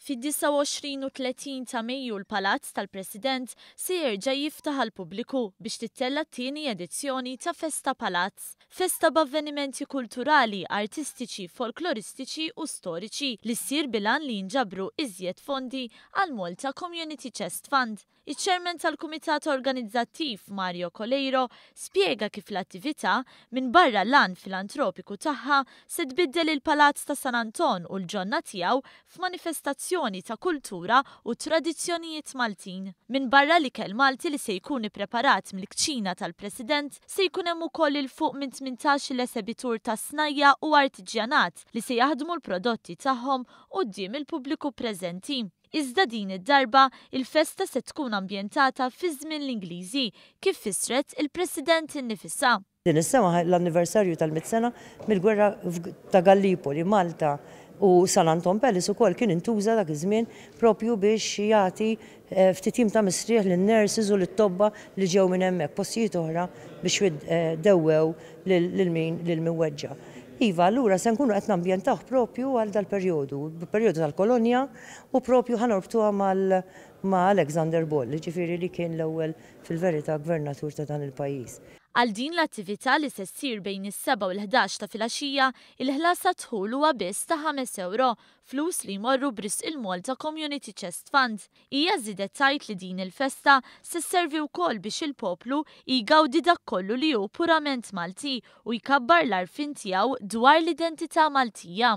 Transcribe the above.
Fid-29 u 30 ta' Mejju l-Palazz tal-President se jerġa' jiftaħ għall-pubbliku biex tittella' t-tieni edizzjoni ta' Festa Palazz. Festa b'avvenimenti kulturali, artistiċi, folkloristiċi u storiċi li ssir bil-għan li jinġabru iżjed fondi għall-Malta Community Chest Fund. Iċ-Chairman tal-Kumitat Organizzattiv, Mario Coleiro, spjega kif l-attività, minbarra l-għan filantropiku tagħha, se tbiddel il-Palazz ta' San Anton u l-ġonna tiegħu f'manifestazzjoni ta' kultura u tradizzjonijiet Maltin. Minbarra l-ikel Malti li se jkun ippreparat mill-kċina tal-President, se jkun hemm ukoll 'il fuq minn tmintax-il esebitur ta' snajja' u artiġjanat li se jaħdmu l-prodotti tagħhom quddiem il-pubbliku preżenti. Iżda din id-darba, il-festa se tkun ambjentata fi żmien l-Ingliżi, kif fissret il-President innifisha. Din is-sena hu l-anniversarju tal-mitt sena mill-gwerra ta' Gallipoli, Malta, u San Anton Palace ukoll kien intuża dak iż-żmien proprju biex jagħti ftit jiem ta' mistrieħ lin-nurses u lit-tobba li ġew minn hemmhekk postijiet oħra biex dewwew lil min lil min weġġa'. Iva, allura se nkunu qed nambjentawh proprju għal dal-perjodu, perjodu tal-kolonja u proprju ħa norbtuha mal ma' Alexander Ball, jiġifieri li kien l-ewwel fil-verità gvernatur ta' dan il-pajjiż. Għal din l-attività li se ssir bejn is-sebgħa u l-ħdax ta' filgħaxija, il-ħlas għad-dħul huwa biss ta' ħames ewro, flus li jmorru b'risq il-Malta Community Chest Fund, Hija żiedet tgħid li din il-festa se sservi wkoll biex il-poplu jgawdi dak kollu li hu purament Malti u jkabbar l-għarfien tiegħu dwar l-identità Maltija.